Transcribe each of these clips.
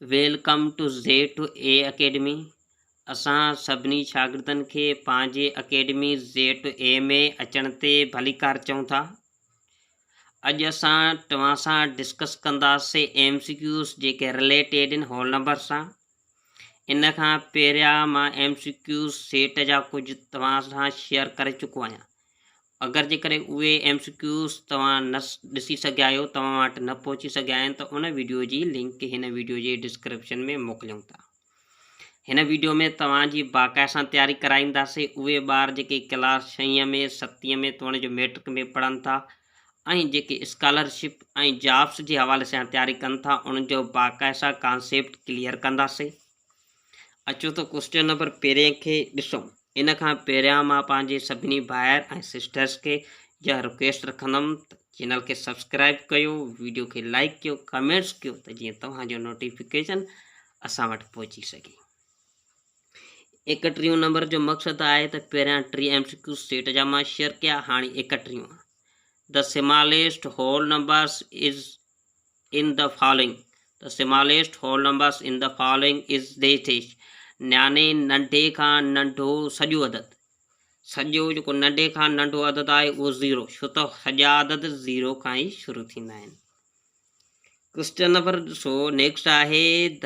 Welcome to زيٽو اي academy اسان سڀني شاگردن کي پنهنجي اڪيڊمي زيٽو اي ۾ اچڻ تي ڀليڪار چئون ٿا اڄ اسان توهان سان ڊسڪس ڪنداسين ايم سي ڪيوز جيڪي رليٽيڊ ان هول نمبر سان ان کان پهريان مان ايم سي ڪيوز سيٽ جا ڪجهه توهان سان شيئر ڪري چڪو آهيان اگر جيڪڏهن اهي ايم سي ڪيوز توهان نه ڏسي سگهيا آهيو توهان وٽ نه پهچي سگهيا آهن ته ان ويڊيو جي لنڪ هن ويڊيو جي ڊسڪرپشن ۾ موڪليون ٿا. هن ويڊيو ۾ توهان جي باقاعده سان تياري ڪرائينداسين اهي ٻار جيڪي ڪلاس ڇهين ۾ ستين ۾ توڻي جو ميٽرڪ ۾ پڙهن ٿا ۽ جيڪي اسڪالر شپ ۽ جابس جي حوالي سان تياري ڪن ٿا انهن جو باقاعده سان ڪانسيپٽ ڪليئر ڪنداسين. اچو ته ڪوئسٽن نمبر پهرين کي ڏسون. ان کان پهريان مان پنهنجي سڀني ڀائر ۽ سسٽرس کي اها رڪويسٽ رکندم ته چينل کي سبسڪرائيب ڪيو، ويڊيو کي لائيڪ ڪيو، ڪمينٽس ڪيو ته جيئن توهان جو نوٽيفڪيشن اسان وٽ پهچي سگهي. ايڪٽريون نمبر جو مقصد آهي ته پهريان ٽي ايم سي ڪيو سيٽ جا مان شيئر ڪيا هاڻي ايڪٽريون. The smallest whole numbers is in the following the smallest whole numbers in the following is this يعني ننڍي کان ننڍو سڄو عدد سڄو جيڪو ننڍي کان ننڍو عدد آهي اهو زيرو ڇو ته سڄا عدد زيرو کان ئي شروع ٿيندا آهن ڪوشچن نمبر ڏسو نيڪسٽ آهي the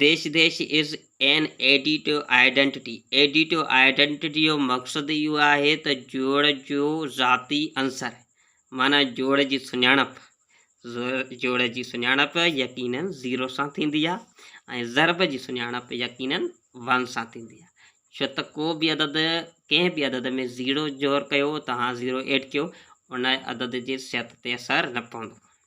dash dash is an additive identity, additive identity جو مقصد اهو آهي ته جوڙ جو ذاتي عنصر معنيٰ جوڙ جي سڃاڻپ، جوڙ جي سڃاڻپ يقيناً زيرو سان ٿيندي آهي ۽ ضرب جي سڃاڻپ يقيناً ون سان ٿيندي آهي ڇو ته ڪو به عدد ڪنهن به عدد ۾ زيرو جوڙ ڪيو توهان زيرو ايڊ ڪيو ان عدد جي صحت تي اثر نه پوندو.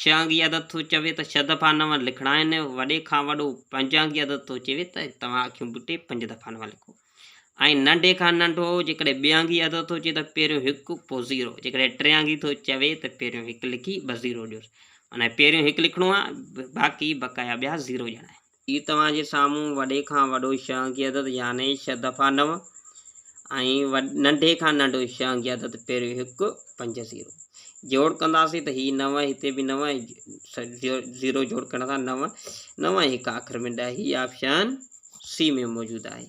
شهانگي عدد ٿو چوي ته ڇهه دفعا نو لکڻا آهن، وڏي کان وڏو پنجانگي عدد ٿو چوي ته توهان اکيون ٻوٽي پنج دفعا نو لکو ۽ ننڍي کان ننڍو جيڪڏهن ٻيانگي عدد ٿو چوي ته پهريون هڪ پوء زيرو جيڪڏهن ٽيانگي ٿو چوي ته پهريون هڪ لکي ٻه زيرو ڏيوس معنيٰ پهريون هڪ لکڻو آهي باقي بقايا ٻيا زيرو ڄڻا آهن. هي توهان جي سامهون وڏي کان وڏو شهنگ جي عدد يعني ڇهه دفعا نو ۽ ننڍي کان ننڍو شهنگ جي عدد پهريون هڪ پنج زيرو جوڙ ڪنداسين ته هي نو هتي به نو زيرو جوڙ ڪرڻ سان نو نو ۽ هڪ آخر ۾ ڏهه هي آپشن سي ۾ موجود آهي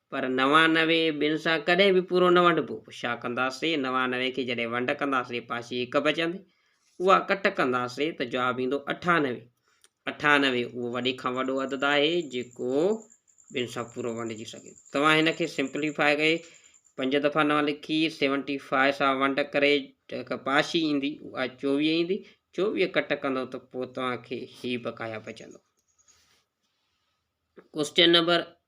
پر نوانوي ٻن سان ڪڏهن به پورو نه ونڊبو. ڇا ڪنداسين؟ نوانوي کي جڏهن ونڊ ڪنداسين پاسي هڪ بچندي. اها ڪٽ ڪنداسين ته جواب ايندو اٺانوي. اٺانوي اهو وڏي کان وڏو عدد آهي جيڪو ٻن سان پورو ونڊجي سگهي ٿو. توهان هن کي سمپلي فاء ڪري پنج دفعا نو لکي سيونٽي فاء سان ونڊ ڪري جيڪا پاسي ايندي اها چوويهه ايندي. چوويهه ڪٽ ڪندو ته پوء توهان کي هي بقايا بچندو. ڪوسچن نمبر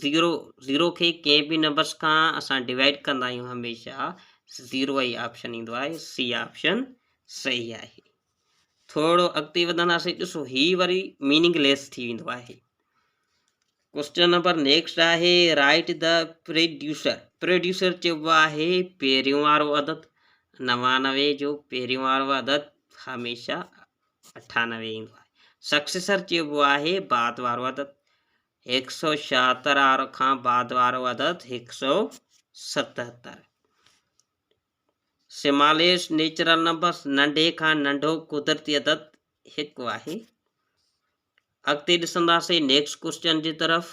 زيرو زيرو کي ڪنهن به نمبرس کان اسان ڊوائيڊ ڪندا آهيون هميشه زيرو ئي آپشن ايندو آهي سي آپشن صحيح آهي ٿورو اڳتي وڌنداسين ڏسو هي وري ميننگ ليس ٿي ويندو آهي ڪوشچن نمبر نيڪسٽ آهي رائٽ د پروڊيوسر پروڊيوسر چئبو آهي پهريون وارو عدد نوانوي جو پهريون وارو عدد هميشه اٺانوي ايندو آهي سڪسيسر چئبو آهي بعد وارو عدد هڪ سؤ ڇاهتر آر کان بعد وارو عدد هڪ سؤ ستهتر. سماليسٽ نيچرل نمبرس، ننڍي کان ننڍو قدرتي عدد، هڪ آهي. اڳتي ڏسنداسين نيڪسٽ ڪوشچن جي طرف.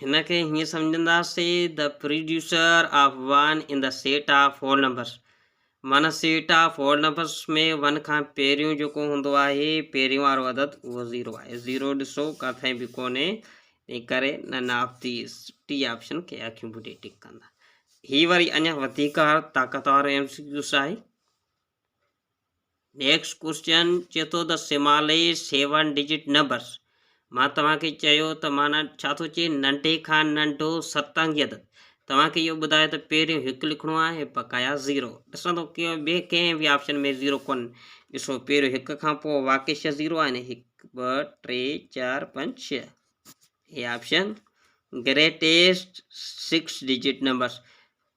هن کي هيئن سمجهنداسين، The producer of one in the set of whole numbers. منسيٽا فورنبس ۾ ون کان پهريون جيڪو هوندو آهي پهرين وارو عدد اهو زيرو آهي زيرو ڏسو ڪٿي به ڪونهي تنهن ڪري نن آف ديز ٽي آپشن کي اکيون ٻوٽي ٽڪ ڪندا هي وري اڃا وڌيڪ طاقتور ايم سي ڪيوس آهي نيڪس ڪوئسچن چي ٿو ته سمالي سيون ڊجٽ نمبرس مان توهان کي چيو ته معنيٰ ڇا ٿو چئي ننڍي کان ننڍو ست انگي عدد توهان کي اهو ٻڌائي ته پهريون هڪ لکڻو آهي بقايا زيرو ڏسان ٿو ڪي ٻي ڪنهن به آپشن ۾ زيرو ڪون ڏسو پهريون هڪ کان پوء واقعي ڇهه زيرو آهن هڪ ٻه ٽي چار پنج ڇهه هي option greatest six digit numbers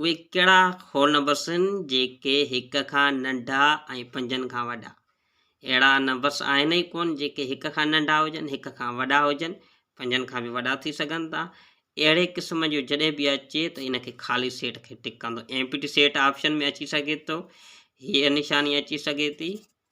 اهي ڪهڙا خونبسن جيڪي هڪ کان ننڍا ۽ پنجن کان وڏا. اهڙا نه بس آهن ئي ڪونه جيڪي هڪ کان ننڍا هجن، هڪ کان وڏا هجن، پنجن کان به وڏا ٿي سگهن ٿا. اهڙي قسم جو جڏهن به اچي ته ان کي خالي سيٽ کي ٽڪ ڪندو Empty Set آپشن ۾ اچي سگهي ٿو. هيء نشاني اچي سگهي ٿي.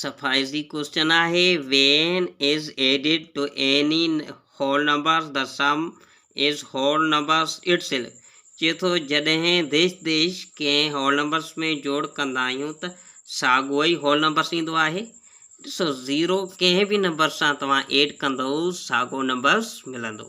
صفائي جي ڪوشچن آهي when is added to any whole numbers the sum is whole numbers itself چئي ٿو جڏهن ديش ديش ڪنهن هول نمبرز ۾ جوڙ ڪندا آهيون ته ساڳو ئي هول نمبرز ايندو آهي ڏسو زيرو ڪنهن به نمبر سان توهان ايڊ ڪندئو ساڳو نمبرز ملندو.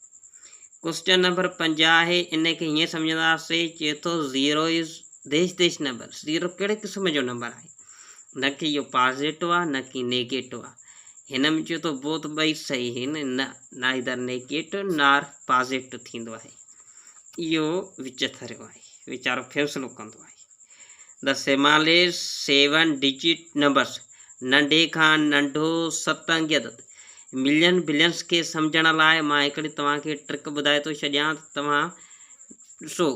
ڪوئسچن نمبر پنجاهه آهي ان کي هيئن سمجهنداسي چئي ٿو زيرو از ديش ديش نمبر زيرو ڪهڙي قسم جو نمبر آهي نه کي اهو پازيٽو آهي نه کي نيگيٽو آهي هن ۾ چئي ٿو بوت ٻئي صحيح آهن نه نائيدر نيگيٽو نار پازيٽو ٿيندو آهي اهو وچ ٿريو آهي ويچارو فيصلو ڪندو آهي The Similes Seven Digit Numbers ننڍي کان ننڍو ست انگي عدد ملين بلينس کي سمجھڻ لاء مان هڪڙي توهان کي ٽرڪ ٻڌائي ٿو ڇڏيان ته توهان ڏسو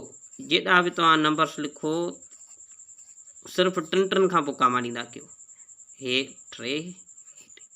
جيڏا به توهان نمبرس لکو صرف ٽن ٽن کان پوء ڪاما ڏيندا ڪيو هي ٽي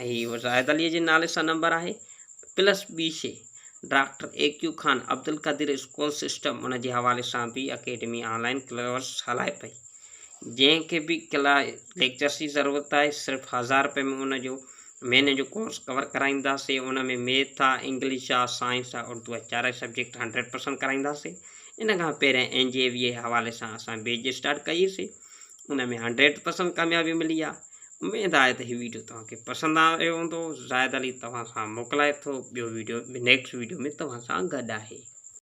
۽ زاهد عليء جي نالي سان نمبر آهي، پلس ٻي شيء، doctor A Q Khan Abdul Qadeer school system ان جي حوالي سان به اڪيڊمي آن لائن ڪلورس هلائي پئي، جنهن کي به ڪلا ليڪچرس جي ضرورت آهي، صرف هزار رپئي ۾ ان جو مهيني جو ڪورس ڪور ڪرائينداسين، ان ۾ ميٿ آ، انگلش آ، سائنس آ، اردو آ چارئي سبجيڪٽ هنڊريڊ پرسنٽ ڪرائينداسين، ان کان پهريان اين جي اي وي اي حوالي سان اسان بيچ اسٽارٽ ڪئي سي. ان ۾ هنڊريڊ پرسنٽ ڪاميابي ملي آهي اميد آهي ته هي ويڊيو توهان کي پسند آيو هوندو زاهد علي توهان سان موڪلائي ٿو ٻيو ويڊيو نيڪسٽ ويڊيو ۾ توهان سان گڏ آهي